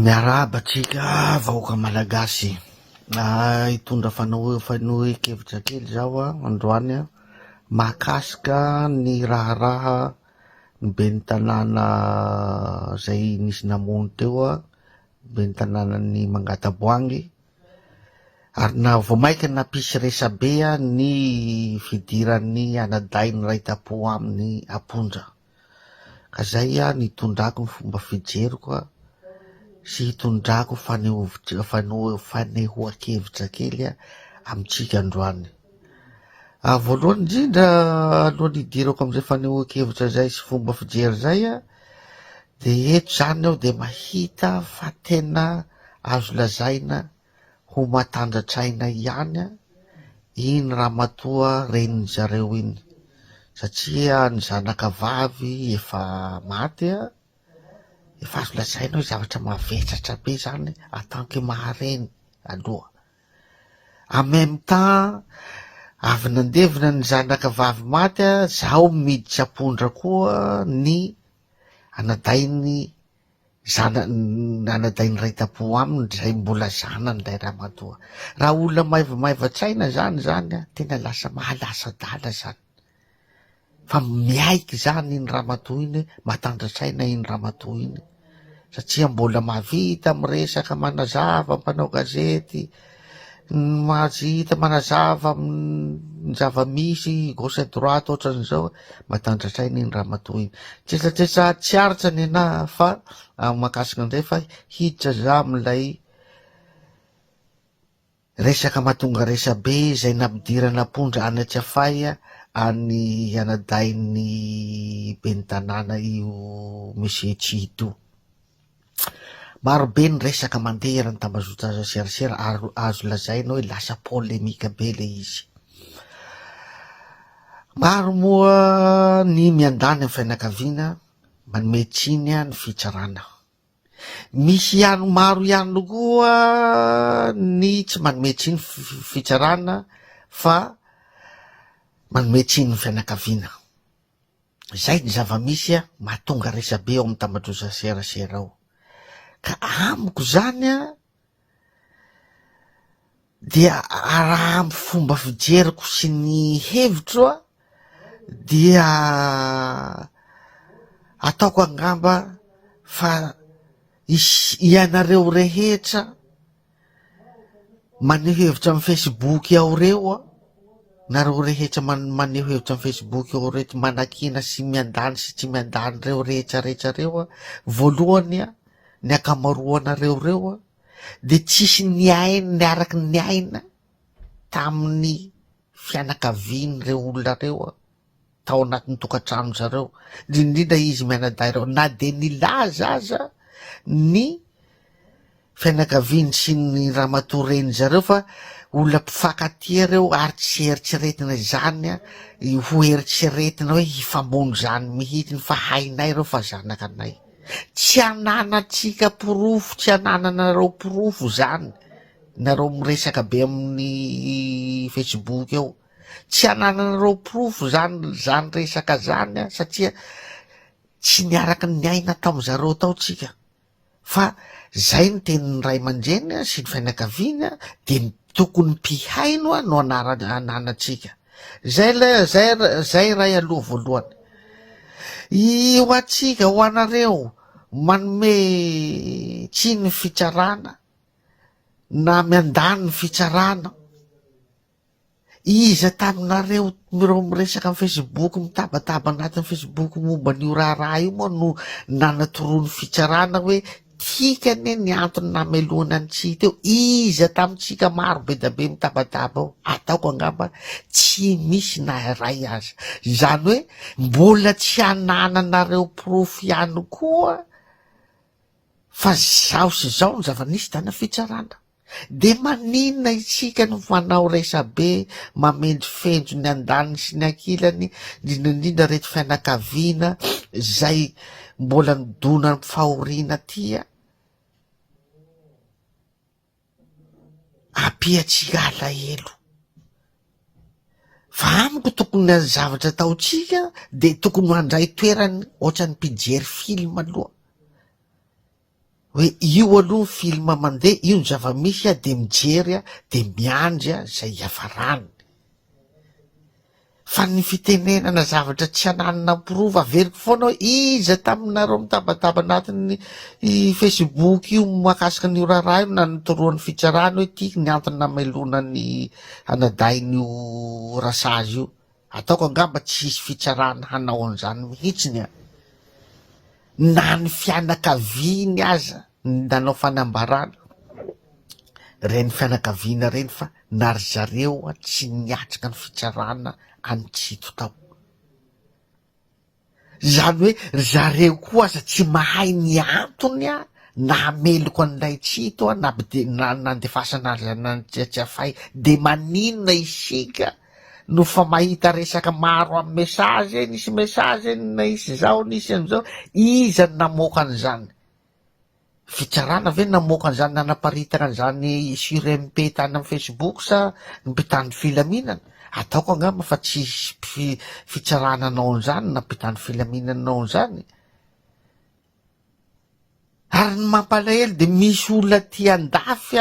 Miarahaba antsika vahoaka malagasy ah, hitondra fanao- fanohenkevitra kely zaho ah, androany ah, mahakasika ny raharaha ny ben'ny tanàna zay nisy namono teo ah, ben'ny tanànan'i Mangataboangy, ary na vao maika nampisy resabe ah, ny fidiran'ny anadahy niray tam-po aminy am-ponja. Ka zay an itondrako ny fomba fijeriko an sy itondrako ny fanehovo fanehoan-kevitra kely an amintsika androany. Ah, voalohany indrindra alohan'ny hidirako amin'izay fanehoan-kevitra izay sy fomba fijery izay an dia eto izany aho dia mahita fa tena azo lazaina Ho matanjatraina ihany iny ramatoa renin'ny zareo iny satria ny zanaka vavy efa maty a, efa azo lazaina hoe zavatra mavesatra be zany en tant que maha reny aloha. En même temps avy nandevina ny zanaka vavy maty a, zaho miditra ampondra koa ny anadahin'ny Zanany anadahy niray tampo aminy izay mbola zanan'ilay ramatoa. Raha olona maivamaivan-tsaina izany izany an, tena lasa mahalasa-dala izany. Fa miaiky izany iny ramatoa iny, matandrin-tsaina iny ramatoa iny satria mbola mahavita miresaka, manazava, mpanao gazety. Ny maha tsy hita manazava ny zava-misy gauche et droite ohatran'izao matandratraina iny ramatoa iny. Tsetsatsetsà tsy aritra ny anà fa amin'ny mahakasika an'izay fa hiditra za amin'ilay resaka mahatonga resabe izay nampidirana am-pondra any Tsiafahy any anadahin'ny ben'ny tanàna io Monsieur Tchito. Maro be ny resaka mandeha eran'ny tambazotra serasera ary azo lazaina hoe lasa polemika be ilay izy. Maro moa ny miandany amin'ny fianakaviana, manome tsiny ny fitsarana. Misy ihany maro ihany koa ny tsy manome tsiny fitsarana fa manome tsiny ny fianakaviana. Izay ny zava-misy mahatonga resabe ao amin'ny tambajotran'ny serasera ao. Ka amiko izany an, dia raha amin'ny fomba fijeriko sy ny hevitro an, dia ataoko angamba fa hisy ianareo rehetra, Maneho hevitra amin'ny Facebook ao reo an! Nareo rehetra maneho hevitra amin'ny Facebook ao reto manakiana sy miandany sy tsy miandany reo rehetra rehetra reo an! Voalohany an! Ny ankamaroanareo reo an! De tsisy niaina niaraka niaina tamin'ny fianakavian'ireo olona reo an! tao anatin'ny tokantranon-dry zareo, indrindra izy mianadahy ireo, na dia nilaza aza ny fianakaviany sy ny ramatoa renin-dry zareo fa olona mpifankatia ireo ary tsy eritreretina izany ho eritreretina hoe hifamono izany mihitsy fa hainay ireo fa zanakanay. Tsy ananantsika porofo, tsy anananareo porofo izany, nareo miresaka be amin'ny facebook eo. Tsy anananareo porofo zany zany resaka zany an satria tsy niaraka niaina tam zareo tao tsika fa zay ny tenin'ny ray aman-dreny an sy ny fianakaviany an de ny tokony mpihaino an no anara ananatsika zay le zay zay ray aloha voalohany i ho antsika ho anareo manome tsiny ny fitsarana na miandany ny fitsarana Iza taminareo ireo miresaka amin'ny Facebook, mitabataba anatin'ny Facebook momba an'io raharaha io moa no nanatoroa ny fitsarana hoe tiaka anie ny antony namelohana an'i Tsy hita eo? Iza tamintsika maro be dia be mitabataba eo? Ataoko angamba tsy misy na iray aza. Izany hoe mbola tsy anananareo porofo ihany koa fa izao sy izao ny zava-nisy tany amin'ny fitsarana. Dia maninona isika no fanao resabe mamendrofendro ny andaniny sy ny ankilany indrindra indrindra reto fianakaviana izay mbola nidona am fahoriana aty a? Ampiantsika alahelo. Fa amiko tokony ny zavatra ataontsika dia tokony handray toerany ohatran'ny mpijery film aloha. Hoe io aloha ny film mandeha, io ny zava-misy a, dia mijery a, dia miandry a izay hiafarany. Fa ny fitenenana zavatra tsy ananina prova, averiko foana hoe iza taminareo mitabataba anatin'ny facebook io mahakasika an'io raharaha io no nanotoroan'ny fitsarana hoe ty ny antony namelona ny anadahin'io rasazy io. Ataoko angamba tsy hisy fitsarana hanao an'izany mihitsiny an! Na ny fianakaviany aza nanao fanambarana ireny fianakaviana ireny fa na ry zareo tsy niatrika ny fitsarana an'i Tsito tao. Izany hoe ry zareo koa aza tsy mahay ny antony nahameloka an'i Raitsito na nandefasana azy any Tsiatsiafay. Dia maninona isika no fa mahita resaka maro amin'ny message, nisy message nisy izao nisy an'izao, iza no namoaka an'izany? Fitsarana ve no namoaka an'izany nanaparitaka an'izany sur MP tany amin'ny Facebook sa ny mpitandro filaminana? Ataoko angamba fa tsy hisy fitsarana hanao an'izany na mpitandro filaminana hanao an'izany. Ary ny mampalahelo dia misy olona aty andafy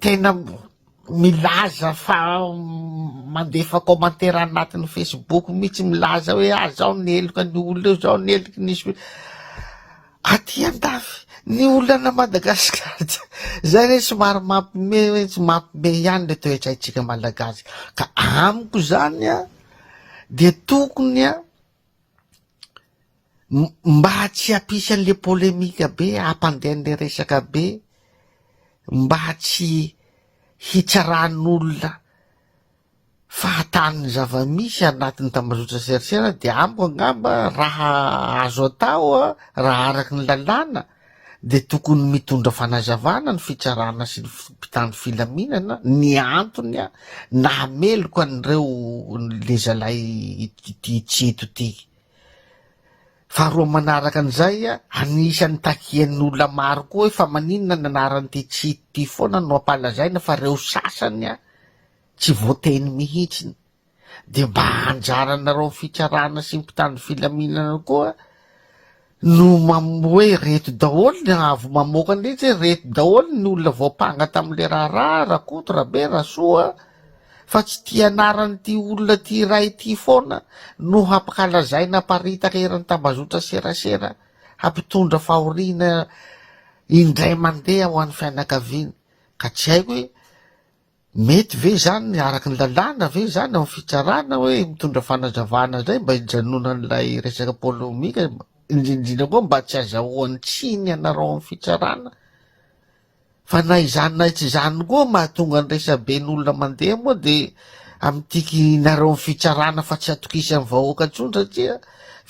tena milaza fa mandefa commentaire anatin'ny facebook mihitsy milaza hoe ah zao ny heloka ny olona eo zao ny heloky ny swi aty andafy ny olona Madagascar zay re somary mampime hoe tsy mampime ihany le toetraintsika malagasy ka amiko zany a dia tokony a Mba tsy hampisy an'le polemika be, hampandeha an'le resaka be, mba tsy hitsaran'olona fahatany ny zava-misy anatin'ny tambazotra-tserasera dia amiko angamba raha azo atao raha araka ny lalàna dia tokony mitondra fanazavana ny fitsarana sy ny mpitandro filaminana ny antony nahameloka an'ireo le zalahy ity tsy eto ity. Faharoa manaraka an'izay, anisan'ny takian'ny olona maro koa hoe fa maninona ny anaran'ity tsy eto ity foana no ampalazaina fa ireo sasany tsy voateny mihitsy. dia mba anjaranareo fitsarana sy mpitandro filaminana koa no mam hoe reto daholo ny avo mamoaka ny ritsy hoe reto daholo ny olona voampanga tamin'le raharaha rakoto rabe rasoa fa tsy ty anaran'ity olona ty iray ity foana no hampakalazaina haparitaka eran'ny tambazotra serasera hampitondra fahoriana indray mandeha ho an'ny fianakaviany ka tsy haiko hoe Mety ve izany araka ny lalàna ve izany ao amin'ny fitsarana hoe mitondra fanazavana izay mba hijanonan'ilay resaka polemika indrindrindra koa mba tsy azahoan'ny tsiny ianareo ao amin'ny fitsarana fa na izany na tsy izany koa mahatonga ny resabe ny olona mandeha moa dia amin'itikinareo amin'ny fitsarana fa tsy atokisan'ny vahoaka intsony satria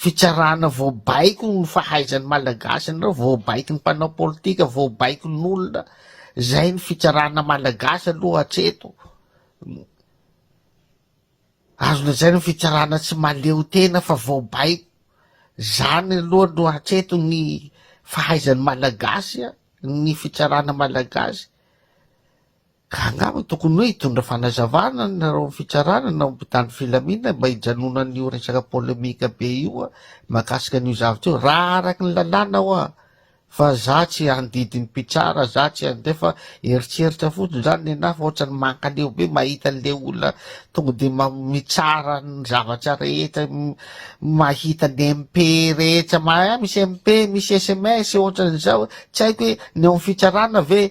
fitsarana voabaiko ny fahaizan'ny malagasy anareo voabaiko ny mpanao politika voabaiko ny olona Zay ny fitsarana malagasy aloha hatreto, azo lazaina fitsarana tsy mahaleo tena fa vao baiko, zany aloha no hatreto ny fahaizan'ny malagasy an, ny fitsarana malagasy, ka angamba tokony hoe hitondra fanazavana nareo amin'ny fitsarana nareo mpitandro filaminana mba hijanonana io resaka polemika be io an, mahakasika an'io zavatra io, raha araka ny lalàna ho'a. Fa za tsy handidy ny mpitsara, za tsy an'izay fa eritreritra fotsiny zany nenahy fa ohatrany mankaleo be mahita an'le olona tonga de mitsara ny zavatra rehetra, mahita ny MP rehetra, mahai misy MP, misy sms ohatran'izao, tsy haiko hoe ny ao amin'ny fitsarana ve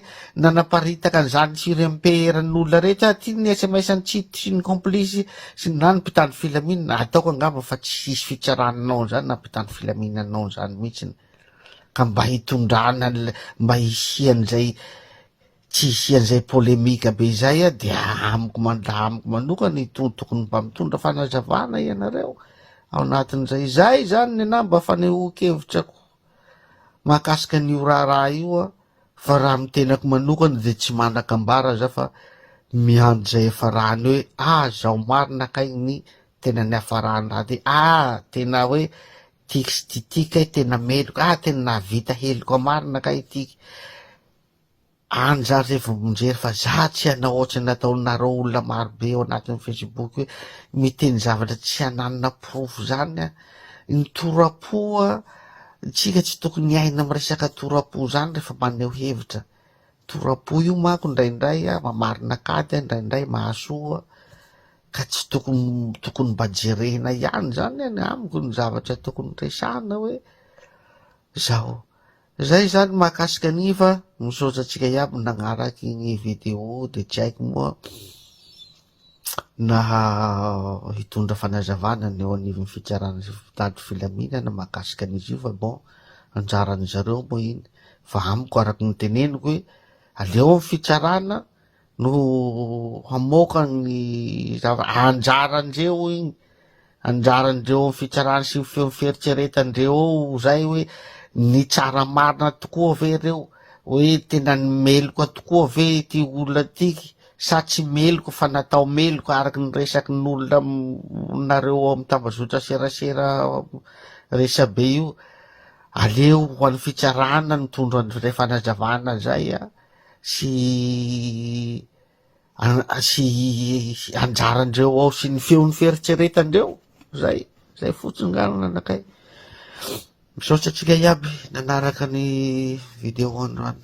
nanaparitaka an'izany surmp eran'ny olona rehetra ah, ty ny sms an'i City sy ny complice sy na ny mpitandro filaminana, ataoko angamba fa tsy hisy fitsarana anao an'izany na mpitandro filaminana anao an'izany mihitsiny. ka mba hitondrana an'ilay mba hisian'izay tsy hisian'izay polemika be izay a dia amiko mandraha amiko manokana itony tokony mba mitondra fanazavana ianareo ao anatin'izay izay izany ny anah mba fanehoan-kevitrako mahakasika an'io raharaha io a fa raha amin'ny tenako manokana dia tsy manan-kambara za fa miandry izay hafarany hoe ah zao marina kay ny tena niafarany raha dia ah tena hoe Tixy Tity kay tena meloka ah tena nahavita heloka marina kay ity any zany re vao mijery fa za tsy hanao ohatry ny nataonareo olona maro be ao anatin'ny facebook hoe miteny zavatra tsy hananina porofo zany an ny torapo an tsika tsy tokony hiaina amin'ny resaka torapo zany rehefa maneho hevitra torapo io manko indraindray an mamarina kady an indraindray mahasoa Ka tsy tokony tokony mba jerena ihany izany ny amiko ny zavatra tokony resahina hoe zao. Zay izany mahakasika an'iny fa misaotra antsika iaby nagnaraky ny vidéo dia tsy haiko moa na hitondra fanazavana ny eo anivon'ny fitsarana sy mpitandro filaminana mahakasika an'izy io fa bon anjaran'ny zareo moa iny fa amiko araka ny teneniko hoe aleo ny fitsarana no hamoaka ny zava anjaran'ireo igny anjaran'ireo amin'ny fitsarana sy ny feo ny fieritreretan'ireo ao zay hoe nitsara marina tokoa ve ireo hoe tena ny meloka tokoa ve ity olona tiky sa tsy meloka fa natao meloka araky ny resaky ny olona nareo ao amin'ny tambazotra serasera resabe io aleo ho an'ny fitsarana ny tondro an'izay fanazavana zay a sy sy anjaran-dreo ao sy ny feon'ny fieritreretan-dreo zay zay fotsiny nga no nanakay misaotra antsika iaby nanaraka ny video androany